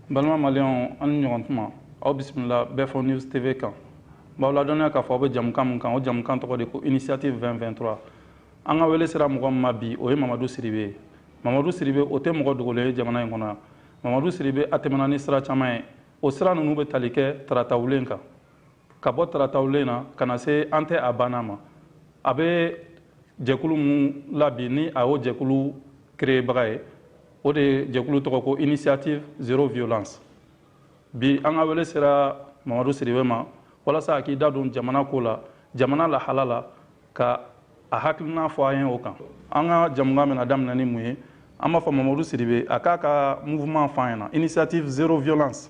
balima maliyɛnw an ni ɲɔgɔn tuma aw bisimila bɛfɔ news tv kan b'aw ladɔnniya k'a fɔ aw bɛ jamukan min kan o jamukan tɔgɔ de ko initiative 223 an ka wele sera mɔgɔ min ma bi o ye mamadu sidibe ye mamadu sidibe o tɛ mɔgɔ dogolen ye jamana in kɔnɔ yan mamadu sidibe a tɛmɛna ni sira caman ye o sira ninnu bɛ tali kɛ taratawulen kan ka bɔ taratawulen na ka na se an tɛ a banna ma a bɛ jɛkulu min la bi ni a y'o jɛkulu kereyebaga ye o de ye jɛkulu tɔgɔ ko initiative zero violence bi an ka wele sera mamadu sidibe ma walasa a k'i da don jamana ko la jamana lahala la ka a hakilina fɔ an ye o kan an ka jamukan bɛna daminɛ ni mun ye an b'a fɔ mamadu sidibe a k'a ka mouvement fɔ an ɲɛna initiative zero violence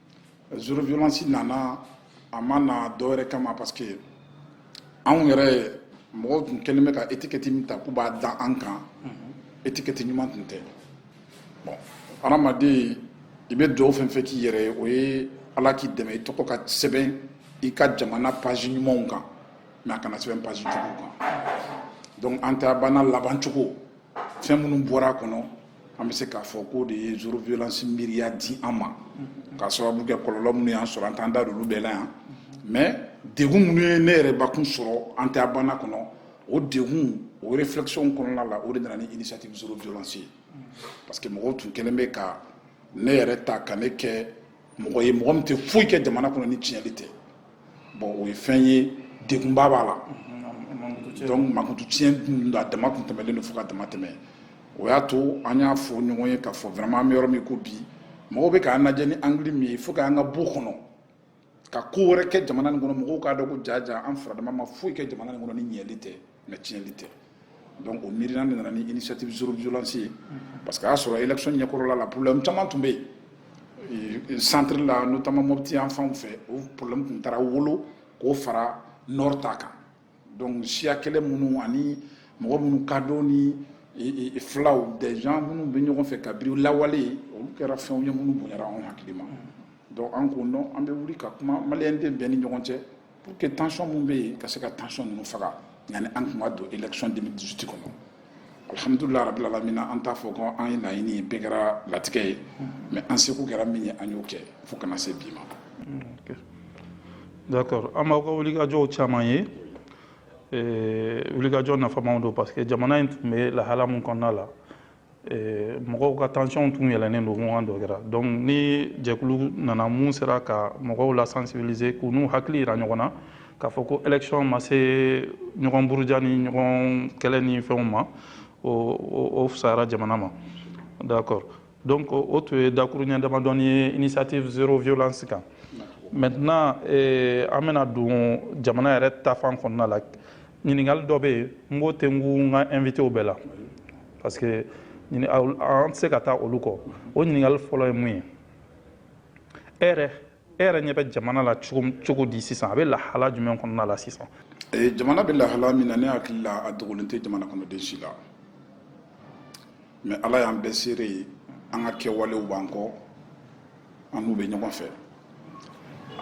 Zero violence nana a ma na dɔwɛrɛ kama parce que anw yɛrɛ mɔgɔw tun kɛlen bɛ ka etikɛti min ta k'u b'a da an kan etikɛti ɲuman tun tɛ bon adamaden i bɛ duwawu fɛn fɛn k'i yɛrɛ ye o ye ala k'i dɛmɛ i tɔgɔ ka sɛbɛn i ka jamana page ɲumanw kan mais a kana sɛbɛn page jugu kan donc an tɛ a banna labancogo fɛn minnu bɔra a kɔnɔ an bɛ se k'a fɔ k'o de ye zero violence miiriya di an ma k'a sababu kɛ kɔlɔlɔ minnu y'an sɔrɔ an t'an da don olu bɛɛ la yan mais degun minnu ye ne yɛrɛ bakun sɔrɔ an tɛ a banna kɔnɔ o degun o réflexion kɔnɔna la o de nana ni initiative zero violence ye parce que mɔgɔw tun kɛlen bɛ ka ne yɛrɛ ta ka ne kɛ mɔgɔ ye mɔgɔ min tɛ foyi kɛ jamana kɔnɔ ni tiɲɛli tɛ bon o ye fɛn ye degunba b'a la donc mankutu tiɲɛ dun a dama tun tɛmɛlen don fo ka dama tɛmɛ o y'a to an y'a fɔ ɲɔgɔn ye k'a fɔ vraiment an bɛ yɔrɔ min i ko bi mɔgɔw bɛ k'an lajɛ ni angle min ye fo k'an ka b'o kɔnɔ ka ko wɛrɛ kɛ jamana nin kɔnɔ mɔgɔw k'a dɔn ko jaa jaa an faradama ma foyi kɛ jamana nin kɔnɔ ni ɲɛli tɛ mais tiɲɛli tɛ donc o miirina de nana ni initiative zero violence ye parce que a y'a sɔrɔ élection ɲɛkɔrɔla la problème caman tun bɛ yen centre la notamment mɔpti yan fanw fɛ o problème tun taara wolo k'o fara nord ta kan donc siya kɛlɛ minnu ani mɔgɔ minnu kado ni filaw des gens minnu bɛ ɲɔgɔn fɛ kabiri lawale olu kɛra fɛnw ye minnu bonyara anw hakili ma donc an ko non an bɛ wuli ka kuma maliyɛnden bɛɛ ni ɲɔgɔn cɛ pour que tension min bɛ yen ka se ka tension ninnu faga yanni an tun ka don election 2018 kɔnɔ alhamdulilah rabil alamina an t'a fɔ ko an ye laɲini ye bɛɛ kɛra latigɛ ye mais an seko kɛra min ye an y'o kɛ fo ka na se bi ma d'accord an b'aw ka wulikajɔw caman ye wulikajɔ nafamaw don parce que jamana in tun bɛ lahala min kɔnɔna la Eh, mɔgɔw ka tension tun yɛlɛnen don ɲɔgɔn dɔ kɛra donc ni jɛkulu nana min sera ka mɔgɔw la sensibiliser k'u n'u hakili yira ɲɔgɔn na k'a fɔ ko election ma se ɲɔgɔn buruja ni ɲɔgɔn kɛlɛ ni fɛnw ma o fusayara jamana ma d'accord donc o tun ye dakuruɲɛ damadɔnin ye initiative zero violence kan maintenant eh, an bɛna don jamana yɛrɛ ta fan kɔnɔna la ɲininkali dɔ bɛ yen n b'o tɛnku n ka invitew bɛɛ la parce que an tɛ se ka taa olu kɔ o ɲininkali fɔlɔ ye mun ye e yɛrɛ e yɛrɛ ɲɛ bɛ jamana la cogo di sisan a bɛ lahala jumɛn kɔnɔna la sisan jamana bɛ lahala min na ne hakili la a dogolen tɛ jamana kɔnɔden si la mais ala y'an bɛɛ seere ye an ka kɛwalew b'an kɔ an n'u bɛ ɲɔgɔn fɛ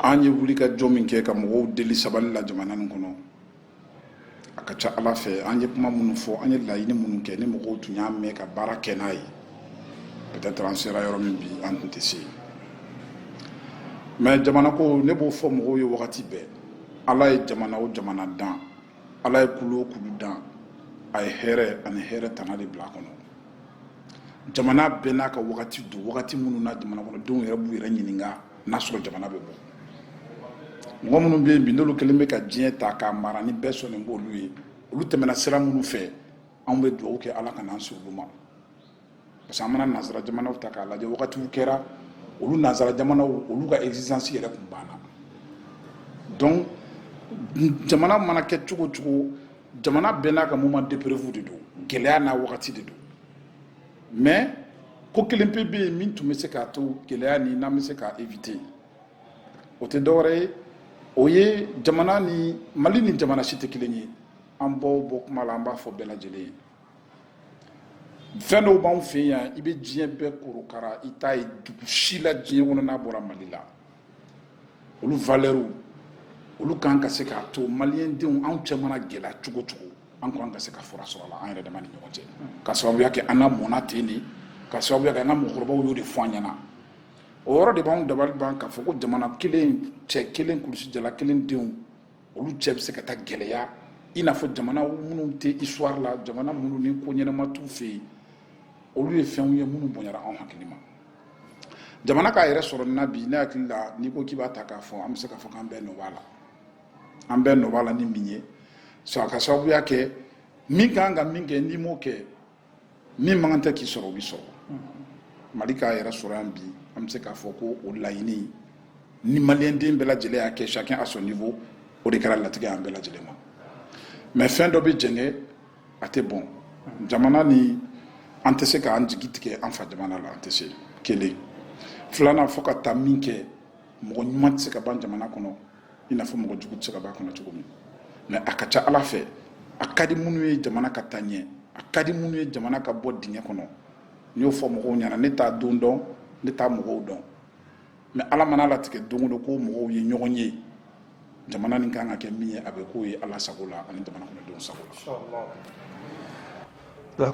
an ye wulikajɔ min kɛ ka mɔgɔw deli sabali la jamana nin kɔnɔ a ka ca ala fɛ an ye kuma minnu fɔ an ye laɲini minnu kɛ ni mɔgɔw tun y'a mɛn ka baara kɛ n'a ye peut-être an sera yɔrɔ min bi an tun tɛ se yen mais jamana ko ne b'o fɔ mɔgɔw ye wagati bɛɛ ala ye jamana o jamana dan ala ye kulu o kulu dan a ye hɛrɛ ani hɛrɛ tana de bila a kɔnɔ jamana bɛɛ n'a ka wagati don wagati minnu na jamana kɔnɔdenw yɛrɛ b'u yɛrɛ ɲininka n'a sɔrɔ jamana bɛ bɔ mɔgɔ minnu bɛ yen bi n'olu kɛlen bɛ ka diɲɛ ta k'a mara ni bɛɛ sɔnnen b'olu ye olu tɛmɛna sira minnu fɛ anw bɛ dugawu kɛ ala kana an se olu ma parce que an mana nansara jamanaw ta k'a lajɛ wagatiw kɛra olu nansara jamanaw olu ka existence yɛrɛ tun banna donc jamana mana kɛ cogo cogo jamana bɛɛ n'a ka moment d'épreuve de don gɛlɛya n'a wagati de don mais ko kelen pe bɛ yen min tun bɛ se k'a to gɛlɛya nin an bɛ se k'a éviter o tɛ dɔwɛrɛ ye o ye jamana nin mali ni jamana si tɛ kelen ye an b'o bɔ kuma la an b'a fɔ bɛɛ lajɛlen ye fɛn dɔw b'anw fɛ yan i bɛ diɲɛ bɛɛ korokara i t'a ye dugu si la diɲɛ kɔnɔ n'a bɔra mali la olu valɛriw olu kan ka se k'a to maliyɛndenw anw cɛ mana gɛlɛya cogo cogo an kan ka se ka fura sɔrɔ a la an yɛrɛ dama ni ɲɔgɔn cɛ ka sababuya kɛ an lamɔna ten de ka sababuya kɛ an ka mɔgɔkɔrɔbaw y'o de fɔ an ɲɛna o yɔrɔ de b'anw dabali ban k'a fɔ ko jamana kelen cɛ kelen kulusijala kelen denw olu cɛ bɛ se ka taa gɛlɛya i n'a fɔ jamana minnu tɛ histoire la jamana minnu nin ko ɲɛnama t'u fɛ yen olu ye fɛnw ye minnu bonyara anw hakili ma jamana k'a yɛrɛ sɔrɔ nin na bi ne hakili la n'i ko k'i b'a ta k'a fɔ an bɛ se k'a fɔ k'an bɛɛ nɔ b'a la an bɛɛ nɔ b'a la ni min ye a ka sababuya kɛ min ka kan ka min kɛ n'i m'o kɛ min mankan tɛ k'i sɔrɔ o bɛ sɔrɔ mali k'a yɛrɛ sɔrɔ yan bi an bɛ se k'a fɔ ko o laɲini ni maliyɛnden bɛɛ lajɛlen y'a kɛ chacun à son niveau o de kɛra latigɛ y'an bɛɛ lajɛlen ma mais fɛn dɔ bɛ jɛngɛ a tɛ bɔn jamana nin an tɛ se k'an jigi tigɛ an fa jamana la an tɛ se kelen filanan fo ka taa min kɛ mɔgɔ ɲuman tɛ se ka ban jamana kɔnɔ i n'a fɔ mɔgɔ jugu tɛ se ka ban a kɔnɔ cogo min mais a ka ca ala fɛ a ka di minnu ye jamana ka taa ɲɛ a ka di minnu ye jamana ka bɔ dingɛ kɔnɔ n y'o fɔ mɔgɔw ɲɛna ne t'a don dɔn ne t'a mɔgɔw dɔn mais ala man'a latigɛ don o don ko mɔgɔw ye ɲɔgɔn ye jamana nin kan ka kɛ min ye a bɛ k'o ye ala sago la ani jamana kɔnɔdenw sago la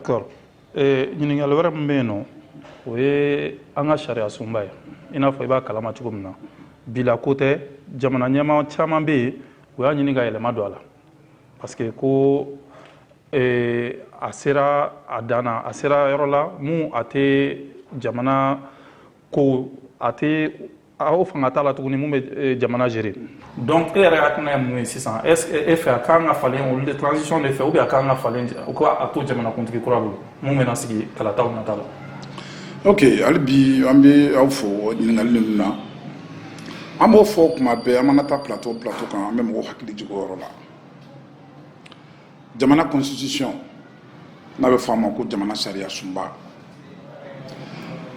ee ɲininkali wɛrɛ min bɛ yen nɔ o ye an ka sariya sunba ye i n'a fɔ i b'a kalama cogo min na bi la ko tɛ jamana ɲɛmaa caman bɛ yen u y'a ɲini ka yɛlɛma don a la parce que ko ee, a sera a dan na a sera yɔrɔ la mun a tɛ jamana ko a tɛ a o fanga t'a la tuguni mun bɛ eh, jamana gérer donc e yɛrɛ hakilina ye mun ye sisan est ce que e fɛ a kan ka falen olu de transition de fɛ ou bien a kan ka falen u ka a to jamanakuntigi kura bolo mun bɛna sigi kalataw nata la ok hali bi an bɛ aw fo ɲininkali ninnu na an b'o fɔ kuma bɛɛ an mana taa plateau plateau kan an bɛ mɔgɔw hakili jigin o yɔrɔ la jamana constitution n'a bɛ fɔ a ma ko jamana sariya sunba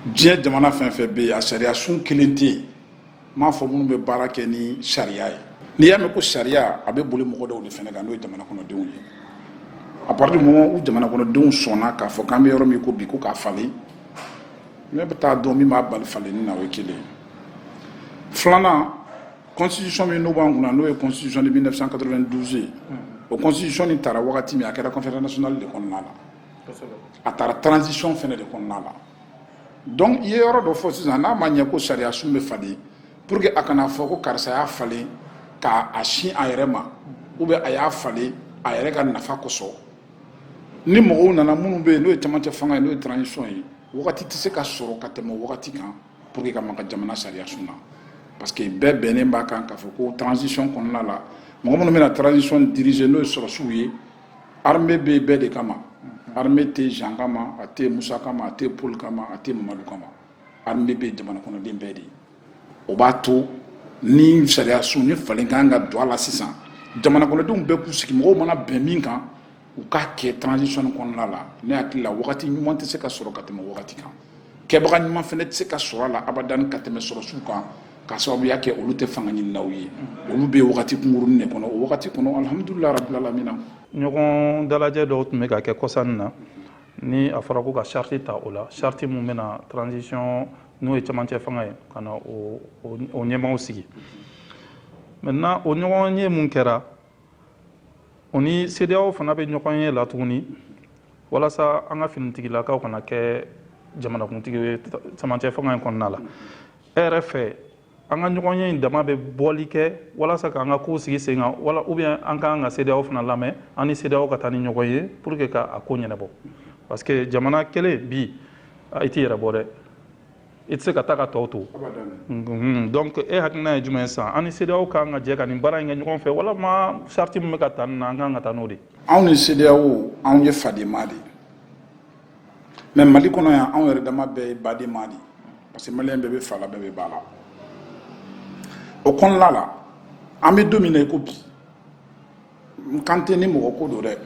diɲɛ jamana fɛn fɛn bɛ yen a sariya sun kelen tɛ yen n m'a fɔ minnu bɛ baara kɛ ni sariya ye n'i y'a mɛn ko sariya a bɛ boli mɔgɔ dɔw de fana kan n'o ye jamana kɔnɔdenw ye à partir du moment où jamana kɔnɔdenw sɔnna k'a fɔ k'an bɛ yɔrɔ min ko bi ko k'a falen ne bɛ t'a dɔn min b'a bali falenni na o ye kelen ye filanan constitution min n'o b'an kunna n'o ye constitution de 1992 ye o constitution nin tara wagati min a kɛra conférence nationale de kɔnɔna la a tara transition fɛnɛ de kɔnɔna la donc i ye yɔrɔ dɔ fɔ sisan n'a ma ɲɛ ko sariya sun bɛ falen pour que a kana fɔ ko karisa y'a falen ka a sin a yɛrɛ ma ou bien a y'a falen a yɛrɛ ka nafa kosɔn ni mɔgɔw nana minnu bɛ yen n'o ye camancɛ fanga ye n'o ye transition ye wagati tɛ se ka sɔrɔ ka tɛmɛ wagati kan pour que ka maga jamana sariya sun na parce que bɛɛ bɛnnen b'a kan k'a fɔ ko transition kɔnɔna la mɔgɔ minnu bɛna transition diriger n'o ye sɔrɔdasiw ye armée bɛ bɛɛ de kama armée tɛ jean kama a tɛ musa kama a tɛ paul kama a tɛ mamadu kama armée bɛ jamana kɔnɔden bɛɛ de ye o b'a to ni sariya sun nin falen kan ka don a la sisan jamana kɔnɔdenw bɛɛ k'u sigi mɔgɔw mana bɛn min kan u ka kɛ transition kɔnɔna la ne hakili la wagati ɲuman tɛ se ka sɔrɔ ka tɛmɛ wagati kan kɛbaga ɲuman fana tɛ se ka sɔrɔ a la abadan ka tɛmɛ sɔrɔsiw kan ka sababuya kɛ olu tɛ fanga ɲininaw ye olu bɛ wagati kunkurunnin de kɔnɔ o wagati kɔnɔ alhamdulilayi rabbil alamina ɲɔgɔn dalajɛ dɔw tun bɛ ka kɛ kɔsa in na ni a fɔra ko ka sariti ta o la sariti min bɛna transition n'o ye cɛmancɛ fanga ye ka na o ɲɛmaaw sigi maintenant o ɲɔgɔn ye mun kɛra o ni CEDEAO fana bɛ ɲɔgɔn ye la tuguni walasa an ka finitigilakaw kana kɛ jamanakuntigi ye cɛmancɛ fanga in kɔnɔna la e yɛrɛ fɛ an ka ɲɔgɔn ye in dama bɛ bɔli kɛ walasa k'an ka kow sigi sen kan wala ou bien an kan ka CEDEAO fana lamɛn an ni CEDEAO ka taa ni ɲɔgɔn ye pour que ka a ko ɲɛnabɔ parce que jamana kelen bi i t'i yɛrɛ bɔ dɛ i tɛ se ka taa ka tɔw to mhm. donc e hakilina ye jumɛn ye sisan an ni CEDEAO ka kan ka jɛ ka nin baara in kɛ ɲɔgɔn fɛ walama sariti min bɛ ka ta nin na an ka kan ka taa n'o de ye anw ni CEDEAO anw ye fadenma de ye mais Mali kɔnɔ yan anw yɛrɛ dama bɛɛ ye badenma de ye parce que maliyɛn bɛɛ bɛ fa la bɛɛ bɛ ba la o kɔnɔna la an bɛ don min na i ko bi n kan tɛ ni mɔgɔ ko don dɛ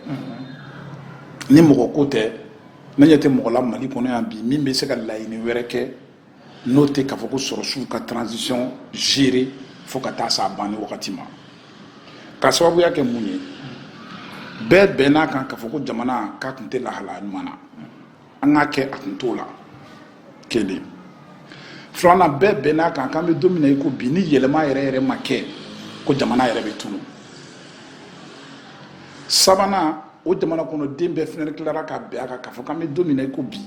ni mɔgɔ ko tɛ ne ɲɛ tɛ mɔgɔ la mali kɔnɔ yan bi min bɛ se ka laɲini wɛrɛ kɛ n'o tɛ k'a fɔ ko sɔrɔsiw ka transition gérer fo ka taa s'a banni wagati ma ka sababuya kɛ mun ye bɛɛ bɛnn'a kan k'a fɔ ko jamana k'a tun tɛ lahalaya ɲuman na an k'a kɛ a kun t'o la kelen filanan bɛɛ bɛnn'a kan k'an bɛ don min na i ko bi ni yɛlɛma yɛrɛ yɛrɛ ma kɛ ko jamana yɛrɛ bɛ tunu sabanan o jamana kɔnɔden bɛɛ fɛnɛ tilara ka bɛn a kan k'a fɔ k'an bɛ don min na i ko bi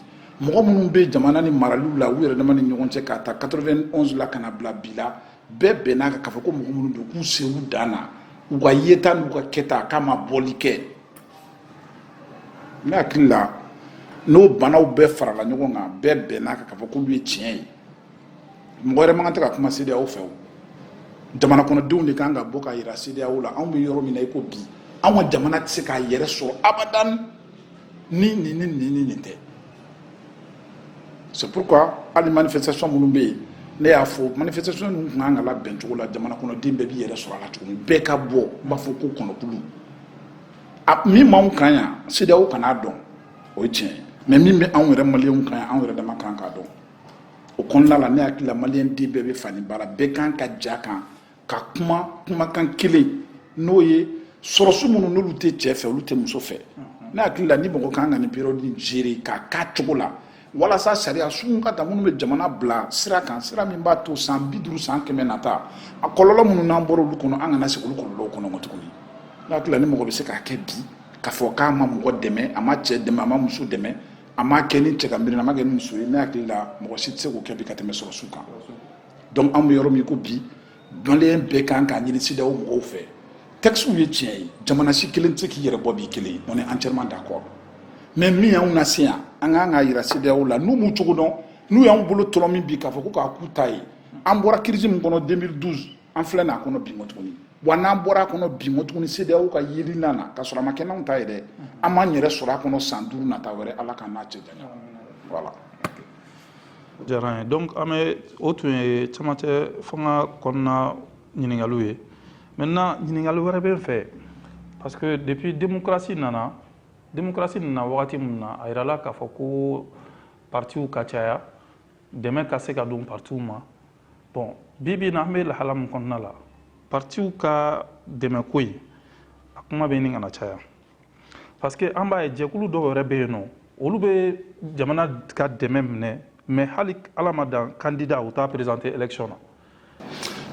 mɔgɔ minnu bɛ jamana nin maraliw la u yɛrɛ dama ni ɲɔgɔn cɛ k'a ta 91 la ka na bila bi la bɛɛ bɛnn'a kan k'a fɔ ko mɔgɔ minnu don k'u se u dan na u ka yeta n'u ka kɛta k'a ma bɔli kɛ ne hakili la n'o banaw bɛɛ farala ɲɔgɔn kan bɛɛ bɛnn'a kan k'a fɔ k'olu ye tiɲɛ ye mɔgɔ wɛrɛ man kan tɛ ka kuma CEDEAO fɛ o jamana kɔnɔdenw de kan ka bɔ k'a yira CEDEAO la anw bɛ yɔrɔ min na i ko bi anw ka jamana tɛ se k'a yɛrɛ sɔrɔ abadan ni nin ni nin ni nin tɛ c'est pourquoi hali manifestation minnu bɛ yen ne y'a fɔ manifestation ninnu tun kan ka labɛn cogo la jamana kɔnɔden bɛɛ b'i yɛrɛ sɔrɔ a la cogo min bɛɛ ka bɔ n b'a fɔ ko kɔnɔkulu a min b'anw kan yan CEDEAO kan'a dɔn o ye tiɲɛ ye mais min bɛ anw yɛrɛ maliyɛnw kan yan anw yɛrɛ dama kan k'a dɔn o kɔnɔna la ne hakili la maliyɛn den bɛɛ bɛ fa ni ba la bɛɛ kan ka jɛ kan ka kuma kumakan kelen n'o ye sɔrɔsi minnu n'olu tɛ cɛ fɛ olu tɛ muso fɛ ne hakili la ni mɔgɔ kan ka nin période in gérer k'a k'a cogo la walasa sariya sun ka ta minnu bɛ jamana bila sira kan sira min b'a to san bi duuru san kɛmɛ nata a kɔlɔlɔ minnu n'an bɔra olu kɔnɔ an kana se olu kɔlɔlɔw kɔnɔ ko tuguni n hakili la ni mɔgɔ bɛ se k'a kɛ bi k'a fɔ k'a ma mɔgɔ dɛmɛ a ma cɛ dɛmɛ a ma muso dɛmɛ a ma kɛ ni cɛ ka miiri a ma kɛ ni muso ye ne hakili la mɔgɔ si tɛ se k'o kɛ bi ka tɛmɛ sɔrɔdasiw kan donc an bɛ yɔrɔ min ko bi maliyɛn bɛɛ kan k'a ɲini sedeyaw mɔgɔw fɛ tɛkisiw ye tiɲɛ ye jamana si kelen tɛ se k'i yɛrɛ bɔ b'i kelen ye on est entièrement d'accord mais min y'anw nase yan an ka kan k'a yira sedeyaw la n'u m'u cogo dɔn n'u y'an bolo tɔlɔmin bi k'a fɔ ko k'a k'u ta ye an bɔra kirisi min kɔnɔ 2012 an filɛ n'a kɔnɔ bi tuguni wa n'an bɔra a kɔnɔ bi mɔ tuguni sedeyaw ka yeli na na ka sɔrɔ a ma kɛ n'anw ta ye dɛ an b'an yɛrɛ sɔrɔ a kɔnɔ san duuru nata wɛrɛ ala k'an n'a cɛ janya voilà jara donc an bɛ o tun ye camancɛ fanga kɔnɔna ɲininkaliw ye maintenant ɲininkali wɛrɛ bɛ n fɛ parce que depuis démocratie nana démocratie nana wagati min na a yirala k'a fɔ ko partiw ka caya dɛmɛ ka se ka don partiw ma bon bi bi na an bɛ lahala min kɔnɔna la partiw ka dɛmɛko in a kuma bɛ ɲini ka na caya parce que an b'a ye jɛkulu dɔw yɛrɛ bɛ yen nɔ olu bɛ jamana ka dɛmɛ minɛ mais hali ala ma dan candidat u t'a présenté élection na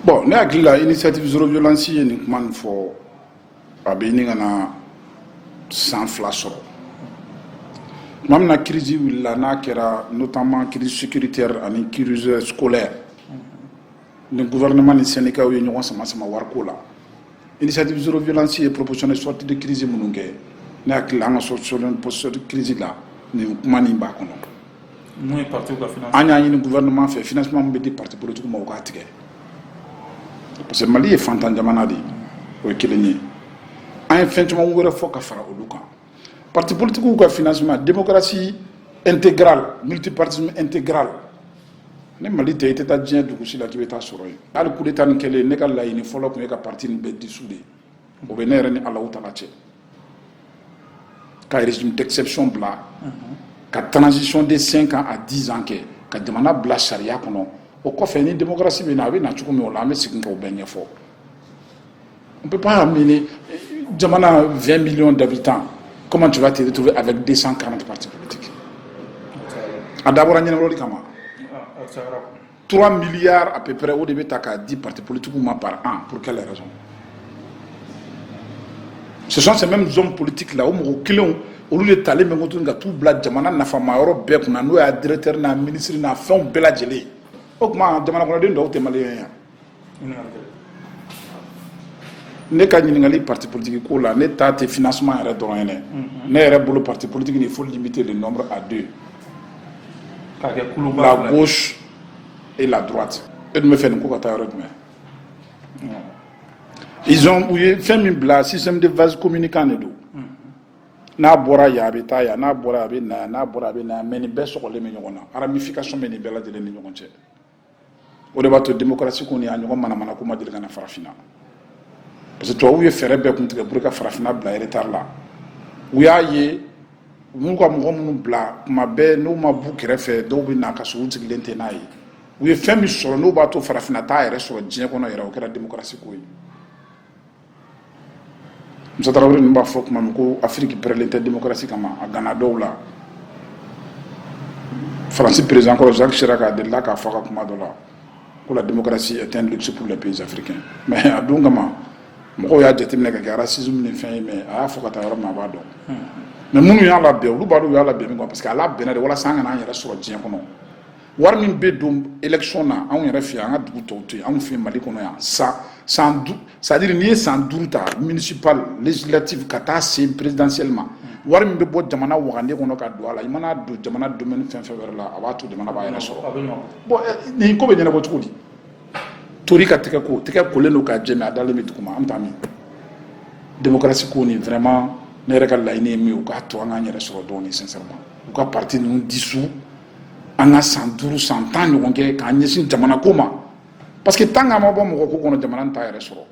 bon ne hakili la initiative zéro violence ye nin kuma nin fɔ a bɛ ɲini ka na san fila sɔrɔ tuma min na kirisi wulila n'a kɛra notamment kirisi sécuritaire ani kirisi scolaire ni gouvernement ni syndicats ye ɲɔgɔn sama sama wariko la initiative zéro violence ye proposition de sortie de crise minnu kɛ ne hakili an ka solution position de crise la nin kuma nin b'a kɔnɔ min ye parti ka finance an y'a ɲini gouvernement fɛ financement min bɛ di parti politique ma u k'a tigɛ parce que mali ye faantan jamana de ye o ye kelen ye an ye fɛn caman wɛrɛ fɔ ka fara olu kan Parti politikiw ka financement démocratie intégrale multipartisme intégral ni mali tɛ i tɛ taa diɲɛ dugusi la k'i bɛ taa sɔrɔ yen hali coup d'État nin kɛlen ne ka laɲini fɔlɔ tun ye ka parti nin bɛɛ dissoudre o bɛ ne yɛrɛ ni ala ta cɛ ka régime d'exception bila ka transition de cinq ans à dix ans kɛ ka jamana bila sariya kɔnɔ o kɔfɛ ni démocratie bɛ na a bɛ na cogo min o la an bɛ sigi k'o bɛɛ ɲɛfɔ On ne peut pas amener Jamana 20 millions d'habitants. Comment tu vas te retrouver avec 240 partis politiques A dabɔra ɲɛnabɔli kama. 3 milliards à peu près o de bɛ ta k'a di parti politique ma par an pour quelle raison ce sont ces mêmes hommes politiques là o mɔgɔ kelenw olu de talen bɛ ko tuguni ka t'u bila jamana nafama yɔrɔ bɛɛ kunna n'o y'a directeur n'a ministre n'a fɛnw bɛɛ lajɛlen o tuma jamana kɔnɔden dɔw tɛ maliyɛn ye ne ka ɲininkali parti politique ko la ne ta tɛ financement yɛrɛ dɔrɔn ye dɛ ne yɛrɛ bolo parti politique nin il faut limiter le nombre à deux k'a kɛ kuluba la gauche et la droite e dun bɛ fɛ nin ko ka taa yɔrɔ jumɛn ils ont u ye fɛn min bila système de vase communicant de don n'a bɔra yan a bɛ taa yan n'a bɔra a bɛ na yan n'a bɔra a bɛ na yan mais nin bɛɛ sɔgɔlen bɛ ɲɔgɔn na ramification bɛ nin bɛɛ lajɛlen ni ɲɔgɔn cɛ o de b'a to démocratie ko nin a ɲɔgɔn manamana ko ma deli ka na farafinna parce que tubabuw ye fɛɛrɛ bɛɛ kun tigɛ pour ka farafinna bila retard la u y'a ye u b'u ka mɔgɔ minnu bila kuma bɛɛ n'u ma b'u kɛrɛfɛ dɔw bɛ na ka sɔrɔ u sigilen tɛ n'a ye u ye fɛn min sɔrɔ n'o b'a to farafinna t'a yɛrɛ sɔrɔ diɲɛ kɔnɔ yɛrɛ o kɛra démocratie ko ye Musa Tarawele ninnu b'a fɔ tuma min ko Afiriki pɛrɛlen tɛ demokarasi kama a ganna dɔw la Faransi peresidan kɔrɔ Zaki Siraki a delila k'a fɔ a ka kuma dɔ la ko la démocratie est un luxe pour les pays africains mais a don kama mɔgɔw y'a jateminɛ k'a kɛ racisme ni fɛn ye mais a y'a fɔ ka taa yɔrɔ min a b'a dɔn mais minnu y'a labɛn olu b'a dɔn u y'a labɛn min kama parce que a labɛnna de walasa an kana an yɛrɛ sɔrɔ diɲɛ kɔnɔ wari min bɛ don election na anw yɛrɛ fɛ an ka dugu tɔw tɛ yen anw fɛ mali kɔnɔ yan san san du c'est à dire n'i ye san duuru ta municipal législative ka taa se présidentielle ma wari min bɛ bɔ jamana wagande kɔnɔ ka don a la i man'a don jamana domaine fɛn fɛn wɛrɛ la a b'a to jamana b'a yɛrɛ sɔrɔ bon nin ko bɛ ɲɛnabɔ cogo di tori ka tɛgɛ ko tɛgɛ kolen don k'a jɛ mais a dalen bɛ duguma an bɛ taa min démocratie ko nin vraiment ne yɛrɛ ka laɲini ye min ye u k'a to an k'an yɛrɛ sɔrɔ dɔɔnin sincèrement u ka parti ninnu dissout an ka san duuru san tan ɲɔgɔn kɛ k'an ɲɛsin jamana ko ma parce que tant k'an ma bɔ mɔgɔ ko kɔnɔ jamana in t'a yɛrɛ sɔrɔ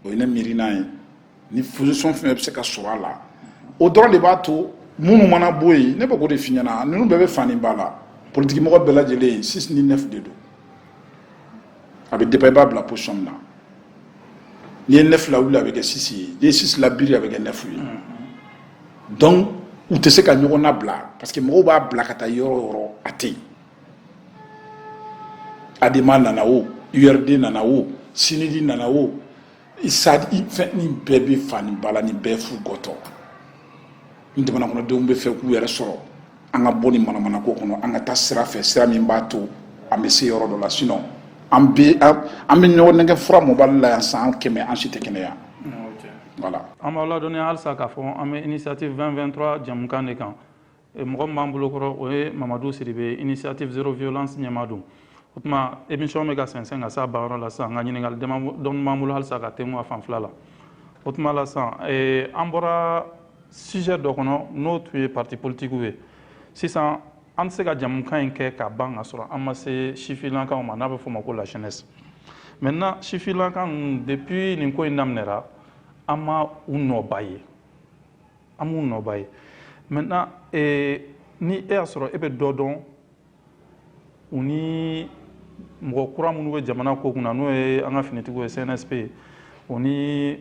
o ye ne miirina ye ni position fɛn bɛɛ bɛ se ka sɔrɔ a la o dɔrɔn de b'a to minnu mana bɔ yen ne bɛ k'o de f'i ɲɛna ninnu bɛɛ bɛ fa ni ba la politikimɔgɔ bɛɛ lajɛlen six ni neuf de don a bɛ dépend i b'a bila position min na n'i ye neuf lawili a bɛ kɛ six ye n'i ye six labiri a bɛ kɛ neuf ye mm-hmm. donc u tɛ se ka ɲɔgɔn nabila parce que mɔgɔw b'a bila ka taa yɔrɔ yɔrɔ a tɛ yen adema nana o urd nana o sinidi nana o fɛn nin bɛɛ bɛ fa ni ba la nin bɛɛ fu gɔtɔ ni jamana kɔnɔdenw bɛ fɛ k'u yɛrɛ sɔrɔ an ka bɔ nin manamana ko kɔnɔ an ka taa sira fɛ sira min b'a to an bɛ se yɔrɔ dɔ la sinon an bɛ an bɛ ɲɔgɔn nɛgɛn fura mɔbali la yan san kɛmɛ an si tɛ kɛnɛya voilà an b'aw ladɔnniya halisa k'a fɔ an bɛ initiative 2023 jɛmukan de kan e, mɔgɔ min b'an bolo kɔrɔ o ye mamadu sidibe initiative zéro violence ɲɛmaa don o tuma émission bɛ ka sɛnsɛn ka s'a banyɔrɔ la sisan nka ɲininkali dɔɔni b'an bolo halisa ka tengu a fan fila la o tuma la sisan e, an bɔra sujet dɔ kɔnɔ n'o tun ye parti politikiw ye sisan an tɛ se ka jɛmukan in kɛ ka ban ka sɔrɔ an ma se sifilankanw ma n'a bɛ f'o ma ko la jeunesse maintenant sifilankan ninnu depuis nin ko in daminɛra an ma u nɔba ye an m'u nɔba ye maintenant eh, ni e y'a sɔrɔ e bɛ dɔ dɔn u ni mɔgɔ kura minnu bɛ jamana ko kunna n'o ye an ka finitigiw ye cnsp u ni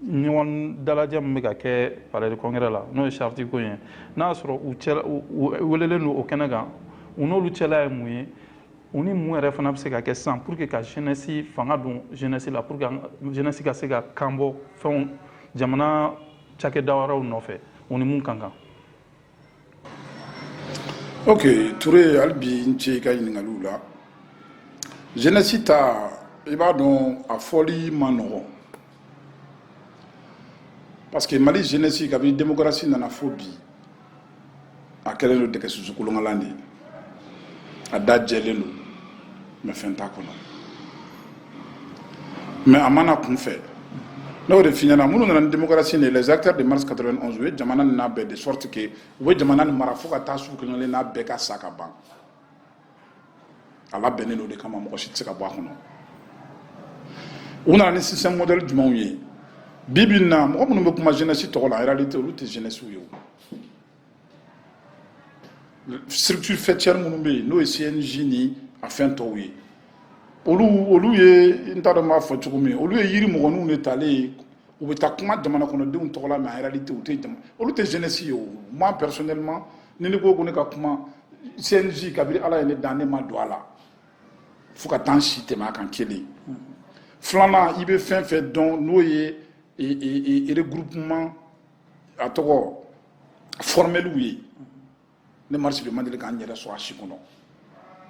ɲɔgɔn dalajɛ min bɛ ka kɛ palais de congrès la n'o ye charte ko ye n'a y'a sɔrɔ u welelen don o kɛnɛ kan u n'olu cɛla ye mun ye u ni mun yɛrɛ fana bɛ se ka kɛ sisan pour que ka jeunesse fanga don jeunesse la pour que jeunesse ka se ka kan bɔ fɛnw jamana cakɛda wɛrɛw nɔfɛ u ni mun ka kan ok ture hali bi n ce i ka ɲininkaliw la jeunesse ta i b'a dɔn a fɔli ma nɔgɔn parce que mali jeunesse kabini démocratie nana fo bi a kɛlen don dɛgɛ susu kolonkalan de ye a da jɛlen don mais fɛn t'a kɔnɔ mais a mana kun fɛ n'o de fi ɲɛna minnu nana ni démocratie de les acteurs de mars 91 u ye jamana nin labɛn de sorte que u bɛ jamana nin mara fo ka taa se f'u kelen kelenna bɛɛ ka sa ka ban a labɛnnen don de kama mɔgɔ si tɛ se ka bɔ a kɔnɔ u nana ni système modèle jugumanw ye bi bi in na mɔgɔ minnu bɛ kuma jeunesse tɔgɔ la en réalité olu tɛ jeunesse ye o structures faîtières minnu bɛ yen n'o ye CNJ ni a fɛn tɔw ye olu olu ye n t'a dɔn n b'a fɔ cogo min olu ye yirimɔgɔninw de talen ye u bɛ taa kuma jamana kɔnɔdenw tɔgɔ la mais en réalité u tɛ jama olu tɛ jeunesse ye o moi personnellement ni ne ko ko ne ka kuma CNJ kabiri ala ye ne dan ne ma don a la fo ka taa n si tɛmɛ a kan kelen filanan i bɛ fɛn fɛn dɔn n'o ye e, e, e, regroupement a tɔgɔ formɛliw ye ne madu sidibe ma deli ka n yɛrɛ sɔrɔ a si kɔnɔ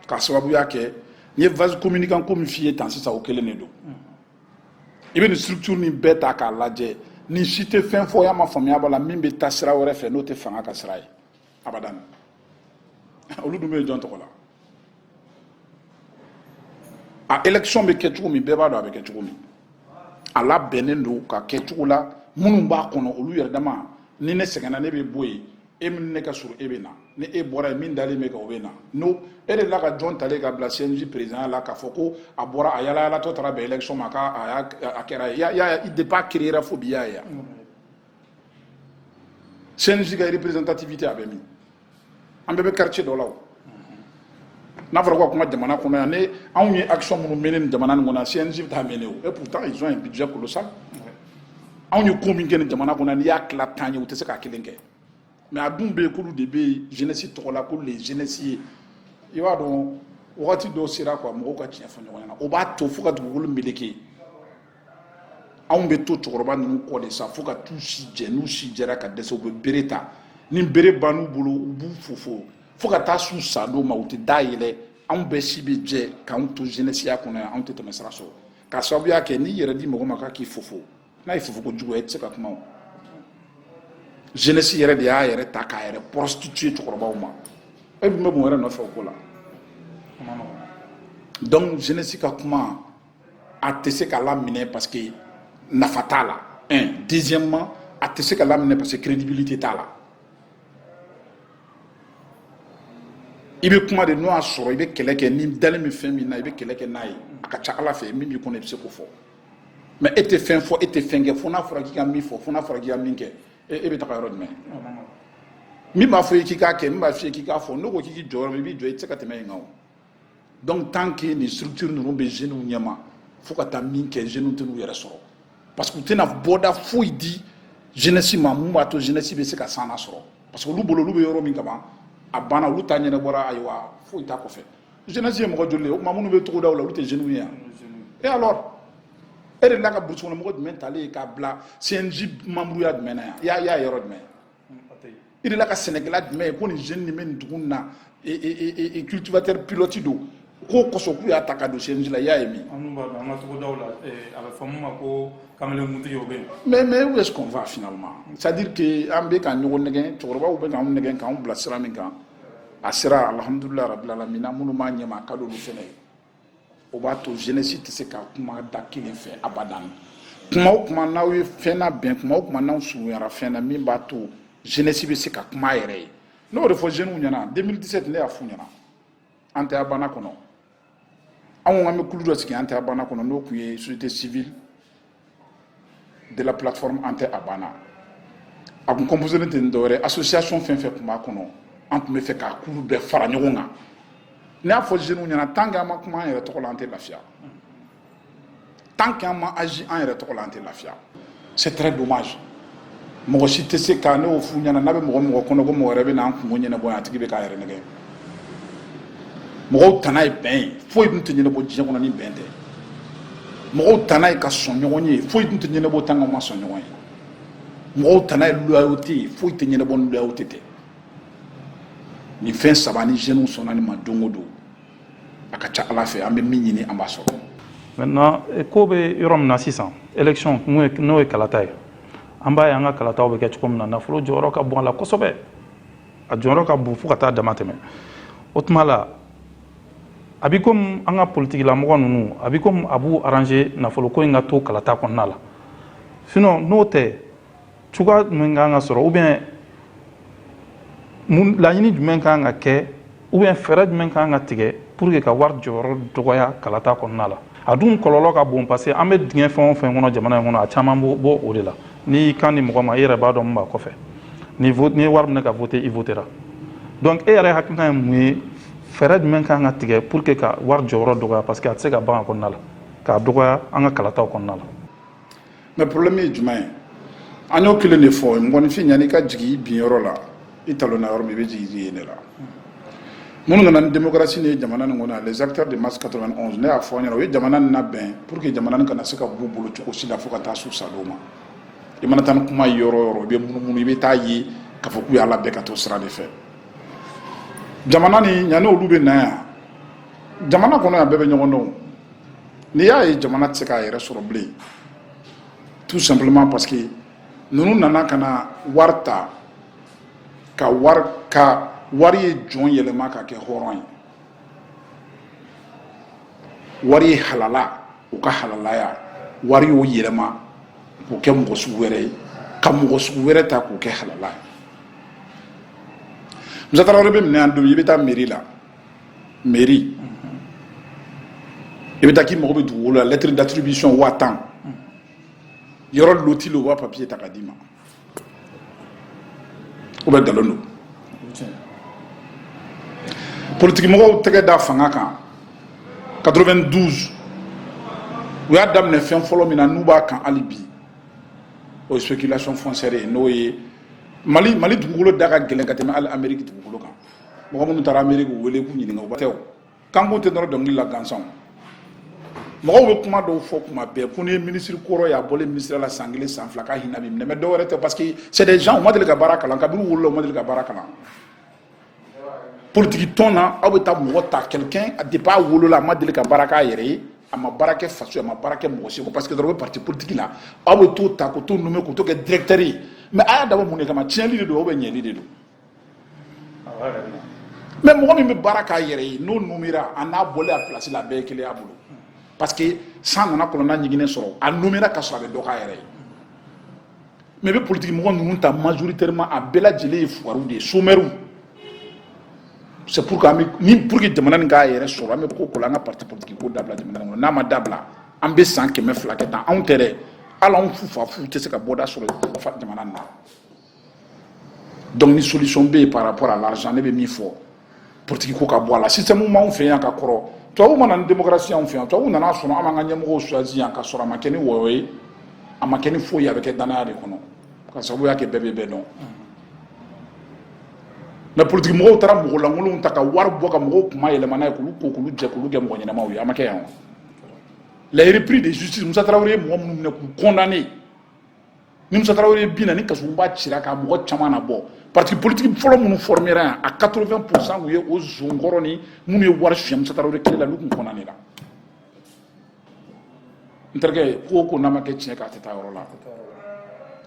k'a sababuya kɛ n ye vase communicant ko min f'i ye tan sisan o kelen de don i bɛ nin structure nin bɛɛ ta k'a lajɛ nin si tɛ fɛn fɔ y'a ma faamuya b'a la min bɛ taa sira wɛrɛ fɛ n'o tɛ fanga ka sira ye abadan olu dun bɛ jɔn tɔgɔ la a élection bɛ kɛ cogo min bɛɛ b'a dɔn a bɛ kɛ cogo min a labɛnnen don ka kɛ cogo la minnu b'a kɔnɔ olu yɛrɛ dama ni ne sɛgɛnna ne bɛ bɔ yen e min ne ka surun e bɛ na ni e bɔra ye min dalen bɛ ka o bɛ na n'o e delila ka jɔn talen ka bila CNJ président la k'a fɔ ko a bɔra a yalayalatɔ taara bɛn élection ma k'a a y'a a kɛra ye i y'a ye depuis a créera fo bi i y'a ye yan CNJ ka représentativité a bɛ min an bɛɛ bɛ quartier dɔ la o n'a fɔra k'u ka kuma jamana kɔnɔ yan ni anw ye action minnu mené nin jamana nin kɔnɔ yan CNJ bɛ taa mené o et pourtant ils ont un budget colossal anw ye ko min kɛ nin jamana kɔnɔ n'i y'a tila tan ye u tɛ se k'a kelen kɛ mais a dun bɛ yen k'olu de bɛ jeunesse tɔgɔ la k'olu de ye jeunesse ye i b'a dɔn wagati dɔw sera quoi mɔgɔw ka tiɲɛ fɔ ɲɔgɔn ɲɛna o b'a to fo ka dugukolo meleke anw bɛ to cɛkɔrɔba ninnu kɔ de sa fo ka t'u si jɛ n'u si jɛra ka dɛsɛ u bɛ bere ta ni bere bann'u bolo u b'u fofo fo ka taa s'u sa don ma u tɛ da yɛlɛ anw bɛɛ si bɛ jɛ k'anw to jenɛsiya kɔnɔ yan anw tɛ tɛmɛ sira sɔrɔ k'a sababuya kɛ n'i y'i yɛrɛ di mɔgɔ ma k'a k'i fofo n'a ye fofo ko jugu ye i tɛ se ka kuma o jenɛsi yɛrɛ de y'a yɛrɛ ta k'a yɛrɛ prostituer cɛkɔrɔbaw ma e dun bɛ mun wɛrɛ nɔfɛ o ko la donc jenɛsi ka kuma a tɛ se ka laminɛ parce que nafa t'a la un deuxièmement a tɛ se ka laminɛ parce que crédibilité t'a la i bɛ kuma de n'o y'a sɔrɔ i bɛ kɛlɛ kɛ n'i dalen bɛ fɛn min na i bɛ kɛlɛ kɛ n'a ye a ka ca a la fɛn min b'i kɔnɔ i bɛ se k'o fɔ mais e tɛ fɛn fɔ e tɛ fɛn kɛ fo n'a fɔra k'i ka min fɔ fo n'a fɔra k'i ka min kɛ e bɛ taga yɔrɔ jumɛn min b'a fɔ i k'i k'a kɛ min b'a f'i ye k'i k'a fɔ n'o ko k'i k'i jɔ yɔrɔ min i b'i jɔ i tɛ se ka tɛmɛ yen kan o donc tant que nin structure ninnu bɛ jeunes ɲɛma fo ka taa min kɛ jeunes tɛn'u yɛrɛ sɔrɔ parce que u tɛna bɔda foyi di jeunesse ma mun b'a to jeunesse bɛ se ka san sɔrɔ parce que olu bolo olu bɛ yɔrɔ min kaban a banna olu ta ɲɛnabɔra ayiwa foyi t'a kɔfɛ jeunesse ye mɔgɔ joli ye o tuma minnu bɛ togodaw la olu tɛ jeunes ye yan et alors e delila ka burusi kɔnɔ mɔgɔ jumɛn talen ye k'a bila CNJ membreya jumɛn na yan i y'a ye yɔrɔ jumɛn i delila ka sɛnɛkɛla jumɛn ye ko nin jeune nin bɛ nin dugu in na cultivateur pilote don k'o kosɔn k'u y'a ta ka don CNJ la i y'a ye min. an b'a dɔn an ka togodaw la a bɛ fɔ min ma ko kamelekuntigi o bɛ yen. mais mais où est-ce qu'on va finalement c'est à dire que an bɛ ka ɲɔgɔn nɛgɛn cɛkɔrɔbaw bɛ k'anw nɛgɛn k'anw bila sira min kan a sera alhamdulilayi rabil alamina minnu b'a ɲɛma a ka d'olu fana ye. o b'a to jenesi tɛ se ka kuma da kelen fɛ abadan kuma o kuma n'aw ye fɛn nabɛn kuma o kuma n'aw surunyara fɛn na min b'a to jenesi bɛ se ka kuma a yɛrɛ ye n y'o de fɔ jeniw ɲɛna 2017 ne y'a f'u ɲɛna an tɛ a banna kɔnɔ anw an bɛ kulu dɔ sigi an tɛ a banna kɔnɔ n'o tun ye société civile de la plateforme an tɛ a banna a kun composélen tɛ ni dɔwɛrɛ association fɛn o fɛn tun b'a kɔnɔ an tun bɛ fɛ k'a kulu bɛɛ fara ɲɔgɔn kan ne y'a fɔ jeunes ɲɛna tant que an ma kuma an yɛrɛ tɔgɔ la an tɛ lafiya tant que an ma agi an yɛrɛ tɔgɔ la an tɛ lafiya c'est très dommage mɔgɔ si tɛ se ka n'o f'u ɲɛna n'a bɛ mɔgɔ o mɔgɔ kɔnɔ ko mɔgɔ wɛrɛ bɛ n'an kunko ɲɛnabɔ yan a tigi bɛ k'a yɛrɛ nɛgɛn mɔgɔw tana ye bɛn ye foyi dun tɛ ɲɛnabɔ diɲɛ kɔnɔ ni bɛn tɛ mɔgɔw tana ye ka sɔn ɲɔgɔn ye foyi dun tɛ ɲɛnabɔ tan n'an ma sɔn ɲɔgɔn ye mɔgɔw tana ye loyauté ye foyi tɛ ɲɛnabɔ ni loyauté tɛ nin fɛn saba ni jeunes sɔnna nin ma don o don a ka ca ala fɛ an bɛ min ɲini an b'a sɔrɔ maintenant ko bɛ yɔrɔ min na sisan élection n'o ye kalata ye an b'a ye an ka kalataw bɛ kɛ cogo min na nafolo jɔyɔrɔ ka bon a la kosɛbɛ a jɔyɔrɔ ka bon fo ka taa dama tɛmɛ o tuma la a bɛ komi an ka politikilamɔgɔ ninnu a bɛ komi a b'u arranger nafoloko in ka to kalata kɔnɔna la sinon n'o tɛ cogoya jumɛn kan ka sɔrɔ ou bien mun laɲini jumɛn kan ka kɛ ou bien fɛɛrɛ jumɛn kan ka tigɛ pour que ka wari jɔyɔrɔ dɔgɔya kalata kɔnɔna la a dun kɔlɔlɔ ka bon parce que an bɛ dingɛ fɛn o fɛn kɔnɔ jamana in kɔnɔ a caman bɛ bɔ o de la n'i y'i kan di mɔgɔ ma i yɛrɛ b'a dɔn min b'a kɔfɛ ni n'i ye wari minɛ ka vote i votera donc e yɛrɛ hakilina ye mun ye fɛɛrɛ jumɛn kan ka tigɛ pour que ka wari jɔyɔrɔ dɔgɔya parce que a tɛ se ka ban a kɔnɔna la k'a dɔgɔya an ka kalataw kɔnɔna la mais problème ye jumɛn ye an y'o kelen de fɔ mɔgɔninfin yanni i ka jigin i bin yɔrɔ la i talonna yɔrɔ min i bɛ jigin yen de la minnu nana ni démocratie nin ye jamana nin kɔnɔ les acteurs de mars 91 ne y'a fɔ an ɲɛna u ye jamana nin labɛn pour que jamana nin kana se ka b'u bolo cogo si la fo ka taa s'u sadon ma i mana taa ni kuma ye yɔrɔ o yɔrɔ i bɛ munumunu i bɛ taa a ye k'a fɔ k'u y'a labɛn ka to sira de fɛ jamana nin yanni olu bɛ na yan jamana kɔnɔ yan bɛɛ bɛ ɲɔgɔn dɔn n'i y'a ye jamana tɛ se k'a yɛrɛ sɔrɔ bilen tout simplement parce que ninnu nana ka na wari ta ka wari ka wari ye jɔn yɛlɛma ka kɛ hɔrɔn ye wari ye halala o ka halalaya wari y'o yɛlɛma k'o kɛ mɔgɔ sugu wɛrɛ ye ka mɔgɔ sugu wɛrɛ ta k'o kɛ halala ye musatara wɛrɛ bɛ minɛ yan don i bɛ taa mairie la mairie i bɛ taa k'i mago bɛ dugukolo la lettre d'attribution waa tan yɔrɔ loti lo u b'a papiye ta k'a d'i ma o bɛɛ nkalon don politikimɔgɔw tɛgɛ da fanga kan 92 u y'a daminɛ fɛn fɔlɔ min na n'u b'a kan hali bi o ye spéculation foncière ye n'o ye mali mali dugukolo da ka gɛlɛn ka tɛmɛ hali ameriki dugukolo kan mɔgɔ minnu taara miiri k'u wele k'u ɲininka u tɛw kankun tɛ nɔrɔ dɔnkili la gansan mɔgɔw bɛ kuma dɔw fɔ kuma bɛɛ ko ni minisiri kɔrɔ y'a bɔlen minisiri la san kelen san fila k'a hinɛ b'i minɛ mɛ dɔwɛrɛ tɛ parce que c'est des gens u ma deli ka baara kalan kabini u wolola u ma deli ka baara kalan politiki tɔn na aw bɛ taa mɔgɔ ta quelqu'un depuis a wolola a ma deli ka baara k'a yɛrɛ ye a ma baara kɛ faso ye a ma baara kɛ mɔgɔ si ko parce que dɔrɔn u bɛ parti politique la aw bɛ t'o ta ka t'o nommer ka t'o kɛ directeur ye mais a y'a dabɔ mun de kama tiɲɛli de don ou bien ɲɛli de don mɛ mɔgɔ min bɛ baara k'a yɛrɛ ye n'o nommera a n'a bɔlen a pilasi la a bɛɛ ye kelen y'a bolo parce que san nana kɔnɔna ɲiginnen sɔrɔ a nommera ka sɔrɔ a bɛ dɔ k'a yɛrɛ ye mɛ i bɛ politiki mɔgɔ ninnu ta majoritairement a bɛɛ lajɛlen ye fuwariw de ye somɛriw c'est pourquoi ne pour que jamana nin k'a yɛrɛ sɔrɔ an bɛ ko ko la an ka parti politiki ko dabila jamana kɔnɔ n'a ma dabila an bɛ san kɛmɛ fila kɛ tan anw tɛ dɛ hali anw fufafu tɛ se ka bɔda sɔrɔ jamana na donc ni solution bɛ yen par rapport à l'argent ne bɛ min fɔ politiki ko ka bɔ a la système b'anw fɛ yan ka kɔrɔ tubabu ma na ni démocratie y'anw fɛ yan tubabu nan'a sɔrɔ an b'an ka ɲɛmɔgɔw choisi yan ka sɔrɔ a ma kɛ ni wɔyɔ ye a ma kɛ ni foyi ye a bɛ kɛ dannaya de kɔnɔ ka sababuya kɛ bɛɛ bɛ bɛɛ dɔn mɛ politiki mɔgɔw taara mɔgɔ lankolonw ta ka wari bɔ ka mɔgɔw kun mayɛlɛma n'a ye k'olu ko k'olu jɛ k'olu kɛ mɔgɔ ɲɛnamaw ye a ma kɛ yan wa les repris de justice musa tarawele ye mɔgɔ minnu minɛ k'u condamné ni musa tarawele binna ni kasoba cira ka mɔgɔ caman nabɔ parti politique fɔlɔ minnu formera yan a 80 pourcent tun ye o zon kɔrɔ nin minnu ye wari suɲɛ musa tarawele tile la olu tun condamnera n terikɛ ko o ko n'a ma kɛ tiɲɛ kan a tɛ taa yɔrɔ la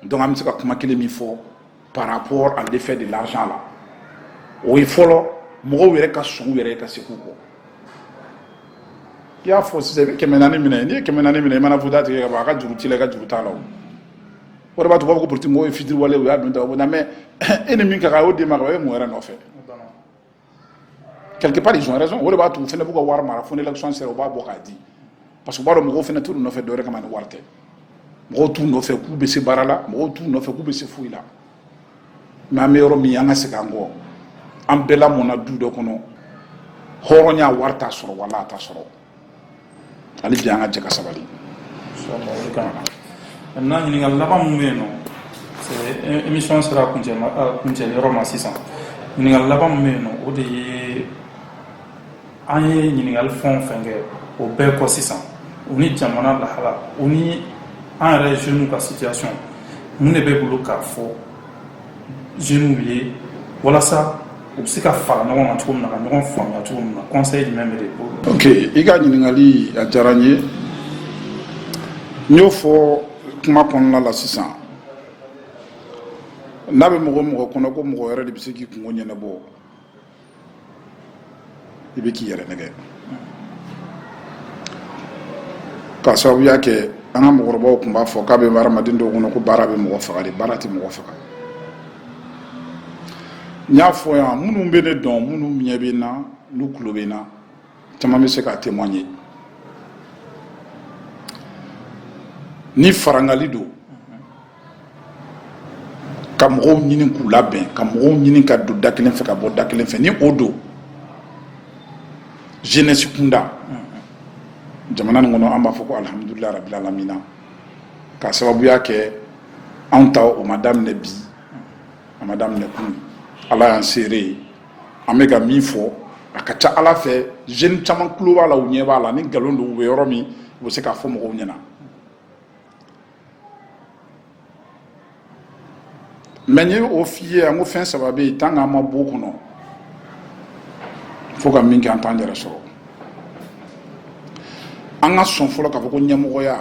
donc an bɛ se ka kuma kelen min fɔ par rapport à l'effet de l'argent la o ye fɔlɔ mɔgɔw yɛrɛ ka segin u yɛrɛ ka segin u kɔ i y'a fɔ sisan i bɛ kɛmɛ naani minɛ n'i ye kɛmɛ naani minɛ i mana voter a tigi ye ka ban a ka juru t'i la i ka juru t'a la o o de b'a to b'a fɔ ko politique mɔgɔw ye fitiriwalew y'a dun ta o bɛ na mɛ e ni min ka kan a y'o d'e ma ka ban e bɛ mun wɛrɛ nɔfɛ quelque part ils ont raison o de b'a to u fana b'u ka wari mara fo ni élection sera u b'a bɔ k'a di parce que u b'a dɔn mɔgɔw fana t'u nɔfɛ dɔwɛrɛ kama ni wari tɛ mɔgɔw t'u nɔfɛ k'u bɛ se baara la mɔgɔw t'u nɔfɛ k'u bɛ se foyi la mɛ an bɛ yɔrɔ min an ka segin an kɔ an bɛɛ lamɔna du dɔ kɔnɔ hɔrɔnya wari t'a sɔrɔ wala a t'a sɔrɔ hali bi an ka jɛ ka sabali n'a ɲininkali laban min bɛ yen nɔ émission sera a kuncɛli yɔrɔ ma sisan ɲininkali laban min bɛ yen nɔ o de ye an ye ɲininkali fɛn o fɛn kɛ o bɛɛ kɔ sisan u ni jamana lahala u ni an yɛrɛ jeunes ka situation mun de b'i bolo k'a fɔ jeunew ye walasa u bɛ se ka fara ɲɔgɔn kan cogo min na ka ɲɔgɔn faamuya cogo min na conseil jumɛn b'e de bolo. ok i ka ɲininkali a diyara n ye n y'o fɔ kuma kɔnɔna la sisan n'a bɛ mɔgɔ o mɔgɔ kɔnɔ ko mɔgɔ wɛrɛ de bɛ se k'i kunko ɲɛnabɔ i bɛ k'i yɛrɛ nɛgɛn k'a sababuya kɛ an ka mɔgɔkɔrɔbaw tun b'a fɔ k'a bɛ hadamaden dɔw kɔnɔ ko baara bɛ mɔgɔ faga de baara tɛ mɔgɔ faga n y'a fɔ yan minnu bɛ ne dɔn minnu ɲɛ bɛ n na n'u tulo bɛ n na caman bɛ se k'a témoigner ni farangali don ka mɔgɔw ɲini k'u labɛn ka mɔgɔw ɲini ka don da kelen fɛ ka bɔ da kelen fɛ ni o don jeunesse kunda jamana nin kɔnɔ an b'a fɔ ko alhamdulillah rabbil alamin ka sababuya kɛ anw ta o ma daminɛ bi a ma daminɛ kunun ala y'an seere ye an bɛ ka min fɔ a ka ca ala fɛ jeune caman tulo b'a la u ɲɛ b'a la ni nkalon don u bɛ yɔrɔ min u bɛ se k'a fɔ mɔgɔw ɲɛna mais n ye o f'i ye an ko fɛn saba bɛ yen tant qu'an ma b'o kɔnɔ fo ka min kɛ an t'an yɛrɛ sɔrɔ an ka sɔn fɔlɔ k'a fɔ ko ɲɛmɔgɔya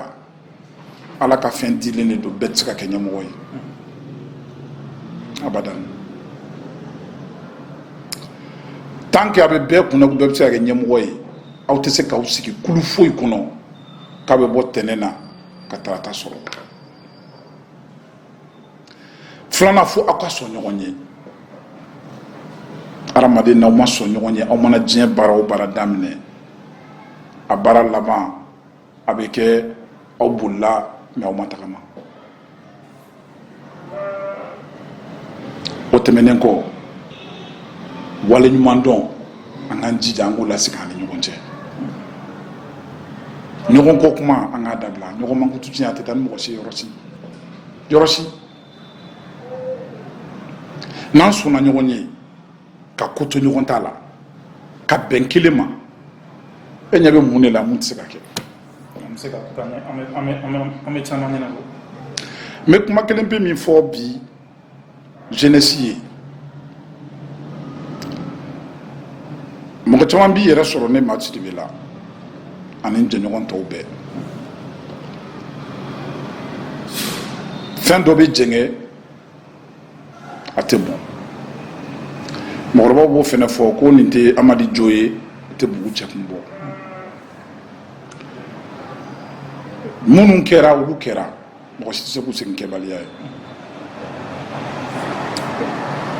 ala ka fɛn dilen de don bɛɛ tɛ se ka kɛ ɲɛmɔgɔ ye abada tant que a bɛ bɛɛ kunna ko bɛɛ bɛ se ka kɛ ɲɛmɔgɔ ye aw tɛ se k'aw sigi kulu foyi kɔnɔ k'a bɛ bɔ ntɛnɛn na ka tarata sɔrɔ filanan fo aw ka sɔn ɲɔgɔn ye hadamaden n'aw ma sɔn ɲɔgɔn ye aw mana diɲɛ baara o baara daminɛ a baara laban a bɛ kɛ aw bolila mais aw ma tagama o tɛmɛnen kɔ waleɲumandɔn an k'an jija an k'o lasigi an ni ɲɔgɔn cɛ ɲɔgɔn kɔ kuma an k'a dabila ɲɔgɔn mankutu tiɲɛ a tɛ taa ni mɔgɔ ye yɔrɔ si n'an sɔnna ɲɔgɔn ye ka ko to ɲɔgɔn ta la ka bɛn kelen ma e ɲɛ bɛ mun de la mun tɛ se ka kɛ n bɛ kuma kelen pe min fɔ bi jeunesse ye mɔgɔ caman b'i yɛrɛ sɔrɔ ne maa sidibe la ani n jɛɲɔgɔn tɔw bɛɛ fɛn dɔ bɛ jɛngɛ a tɛ bɔn mɔgɔkɔrɔbaw b'o fana fɔ ko nin tɛ amadi jo ye a tɛ bugu cɛ kun bɔ minnu kɛra olu kɛra mɔgɔ si tɛ se k'u segin kɛbaliya ye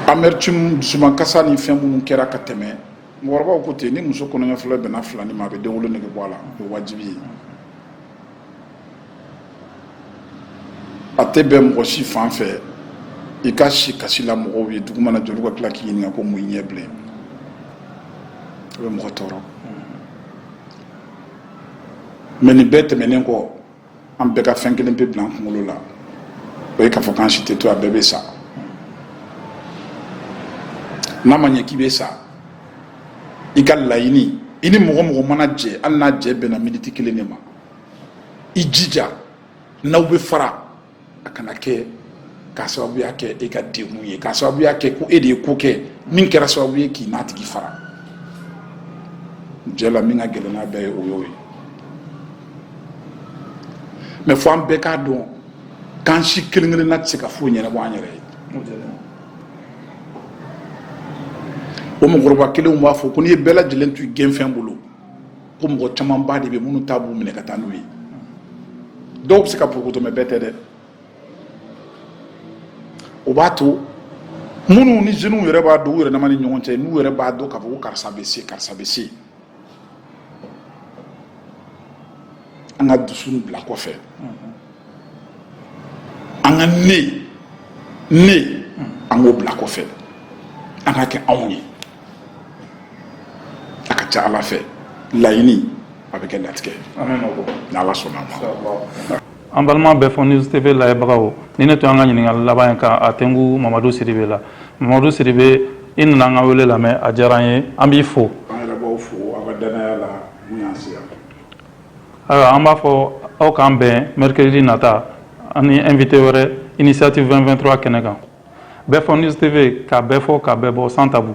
amertume dusumankasi ni fɛn minnu kɛra ka tɛmɛ mɔgɔkɔrɔbaw ko ten ni muso kɔnɔɲɛ fɔlɔ bɛnna filanin ma a bɛ denwolo nege bɔ a la o ye wajibi ye a tɛ bɛn mɔgɔ si fan fɛ i ka si kasi la mɔgɔw ye dugu mana jɛ olu ka tila k'i ɲininka ko mun y'i ɲɛ bilen a bɛ mɔgɔ tɔɔrɔ mɛ nin bɛɛ tɛmɛnen kɔ an bɛɛ ka fɛn kelen pe bila an kunkolo la o ye k'a fɔ k'an si tɛ to a bɛɛ bɛ sa n'a ma ɲɛ k'i bɛ sa i k'a laɲini i ni mɔgɔ o mɔgɔ mana jɛ hali n'a jɛ bɛnna miniti kelen de ma i jija n'aw bɛ fara a kana kɛ k'a sababuya kɛ e ka degun ye k'a sababuya kɛ ko e de ye ko kɛ min kɛra sababu ye k'i n'a tigi fara jɛ la min ka gɛlɛn n'a bɛɛ ye o y'o ye mɛ fɔ an bɛɛ k'a dɔn k'an si kelen kelenna tɛ se ka foyi ɲɛnabɔ an yɛrɛ ye o mɔgɔkɔrɔba kelenw b'a fɔ ko n'i ye bɛɛ lajɛlen to i gɛnfɛn bolo ko mɔgɔ camanba de bɛ minnu ta b'u minɛ ka taa n'u ye dɔw bɛ se ka porokoto mɛ bɛɛ tɛ dɛ o b'a to minnu ni jeunes yɛrɛ b'a dɔn u yɛrɛ dama ni ɲɔgɔn cɛ n'u yɛrɛ b'a dɔn k'a fɔ ko karisa bɛ se karisa bɛ se an ka dusu bila kɔfɛ an ka ne ne an k'o bila kɔfɛ an ka kɛ anw ye a ka ca ala fɛ laɲini a bɛ kɛ latigɛ ni ala sɔnna a ma an balima bɛɛ fɔ news tv lajɛbagaw nin de tun an ka ɲininkali laban ye kan a tɛnku mamadu siribe la mamadu siribe i nana an ka wele lamɛn a diyara an ye an b'i fo an yɛrɛ b'aw fo aw ka danaya la min y'an se yan ayiwa an b'a fɔ aw k'an bɛn mercredi nata an ni invité wɛrɛ initiative 223 kɛnɛ kan bɛɛ fɔ news tv ka bɛɛ fɔ ka bɛɛ bɔ sans tabou